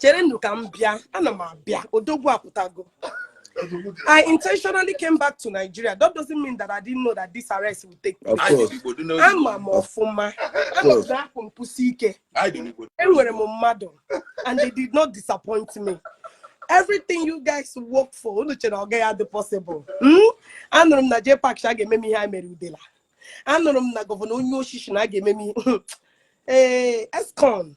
cherenụ ka m bịa ana m abịa odogwu apụtago I intentionally came back to Nigeria. That doesn't mean that I didn't know that this arrest would take place. Ama m ọfụma. And akwụ m kwụsie ike. Enwere m mmadụ and they did not disappoint me. Everything you guys work for, unu chere ọ gaghị adị possible. Hmm? Anụrụ m na J Pak shi a ga-eme m ihe ha mere udela. Anụrụ m na gọvanọ onye oshi shi na a ga-eme m ihe. Ee, eh, Escon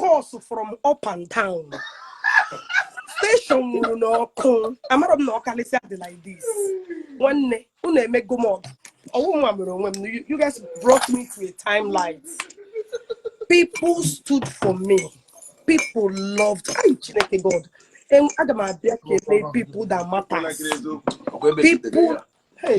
calls from up and down station nwuru ọkụ amara m na ọkalịsịa dị like this nwanne unu emego m ọgọ ọ wụ mwa mere onwe m you guys brought me to a time light people stood for me people loved ay chineke god aga m abịa kelee people that matters people hey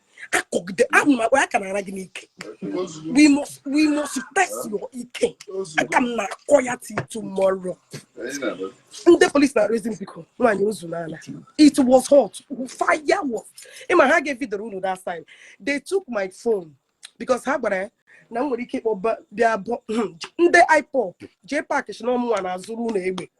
akọgide ahụ ma aka na-ara gị n'ike we must we must test your ike aka m na-akọ ya till tomorrow ndị polisi na-arịọzi m biko nwaanyị o zuola it was hot fire was ị ma ha ga-evideoro unu that time they took my phone because ha gwara ya na m nwere ike ịkpọ bịa bụ hmm, ndị ipob jee pak shi na ọ mụnwa na-azụrụ unu egbe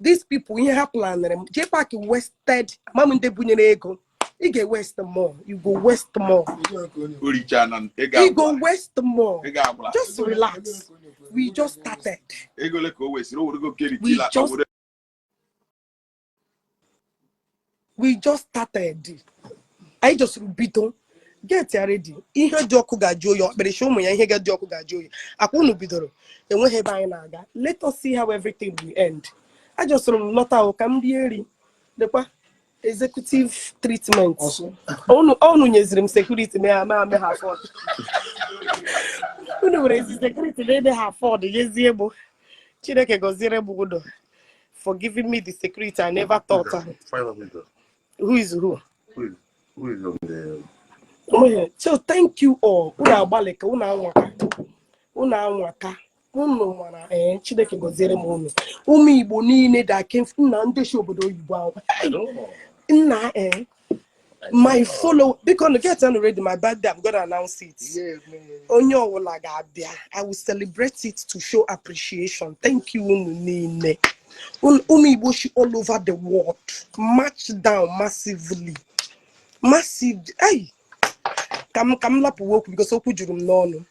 these people ihe ha planere m jee pak wested ma m ndị bunyere ego ị ga-ewest more you go west more oricha na ị ị go ga-agwara west more ị ga-agwara just relax we just started ego ole ka o wesịrị o were go keriti We la just- were we just started anyị jọsịrị bido get ready ihe dị ọkụ ga-ajụ oyi ọkpịrịsị ụmụ ya ihe ga-adị ọkụ ga-ajụ oyi akwa unu bidoro enweghị ebe anyị na-aga let us see how everything will end ajọsịrị m lọta ahụ ka m bịa eridekwa executive treatment unu nyeziri m security ma ya ma ame ha afford unu werezi security na-ede ha afford nyezie mụ chineke gọziere m unu for giving me the security I never thought. Okay. Who is who? Who is, who is on the... Oh, so thank you all. Unu agbalịka unu anwaka. Unu anwaka. Unu nwara ee eh, Chineke gọziere m unu. Ụmụ Igbo niile da kem nna ndị shi obodo oyibo ahụ. Nna ee eh, my follow bikonụ getịnụ ready my birthday i'm gonna announce it onye ọwụla ga-abịa i will celebrate it to show appreciation thank you unu niile ụmụ igbo shi all over the world march down massively massive ai ka m lapụwa okwu because okwu juru m n'ọnụ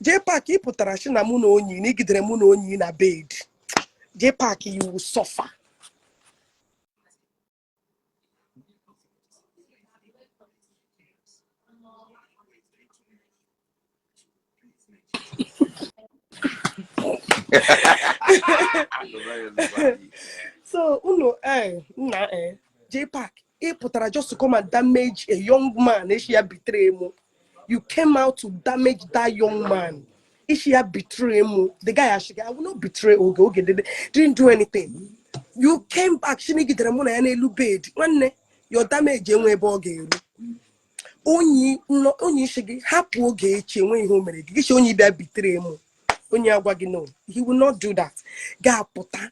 jee pak ị pụtara shi na mụ na onyi na i gidere mụ na onyi na bed jee pak you will suffer so unu eh, nna eh, jpac ị pụtara just to come and damage a young man ị sị ya betray mụ you came out to damage that young man ị sị ya betray mụ the guy asị gị i will not betray oge oge did, didn't do anything you came back sị na i gidere mụ na ya n'elu bed nwanne your damage enwe ebe ọ ga-eru onyi onyi sị gị hapụ ogechi enwe ihe o mere gị gị sị onyi bịa betray mụ onyi agwa gị no he will not do that ga-apụta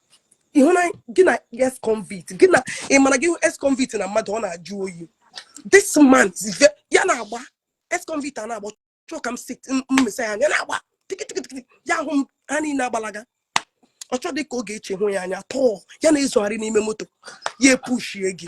ịhụ na gị na ex convict gị na ị mara gị hụ ex convict na mmadụ ọ na-ajụ oyi this man is ve- ya na-agba ex convict a na-agba chọọ ka m si mmesa ya anya na-agba tikitikitikiti ya ahụ m ha niile agbalaga ọ chọdị ka ogechi hụ ya anya tọọ ya na-ezogharị n'ime moto ya epushie gị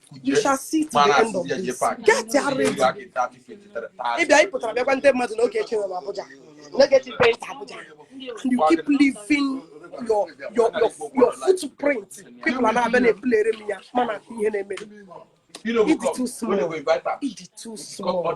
you shall see to the end of this get ya ready ịbịa ị pụtara bịa gwa ndị mmadụ na ogechi nwere Abuja na ogechi went Abuja and you keep leaving your your your your footprint people ana-abịa na-eplayere m ya mana ihe na-eme ị dị too small ị dị too small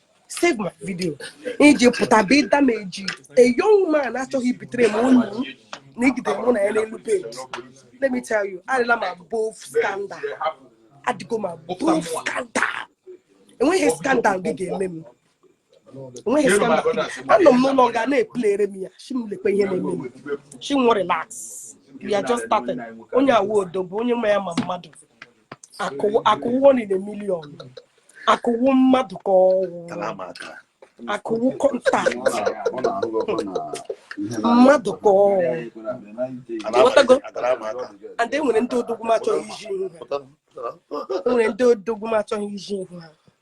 save my video i ji pụta bụ ịdamage a young man achọghị ibetray m onyi na i gidere mụ na ya n'elu bed let me tell you adịla m above scandal adịgo m above scandal enweghị scandal gị ga-eme m enweghị scandal anọ m n'ụlọ nga na-eplayere m ya sị m lekwe ihe na-eme m sị nwe relax we are just starting onye a wụ odogwu onye nwe ya ma mmadụ akụ wụ one in a million akụ wụ mmadụ ka ọ wụ akụ wụ contact mmadụ ka ọ wụ and enwere ndị odogwu m achọghị iji ihu ha enwere ndị odogwu m achọghị iji ihu ha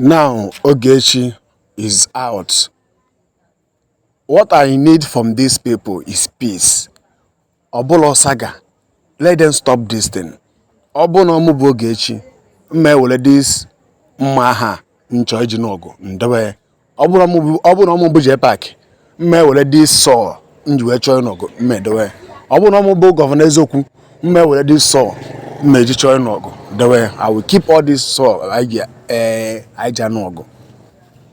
Now Ogechi is out. What I need from these people is peace. Ọ bụla saga. Let them stop this thing. Ọ bụ na ọ mụ bụ Ogechi, m ma ewere this mma agha m chọ iji nụ ọgụ m dewe ọ bụrụ na ọ mụ bụ jpac m ma ewere this sword m ji wee chọọ ịnụ ọgụ m ma edowe ọ bụrụ na ọ mụ bụ gọvanọ eziokwu m ma ewere this sword m ji chọọ ịnụ ọgụ dewe i will keep all this sword anyị eh, ji anụ ọgụ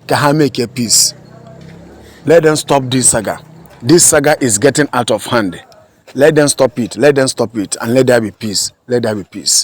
ka ha make a peace let them stop this saga this saga is getting out of hand let them stop it let them stop it and let there be peace let there be peace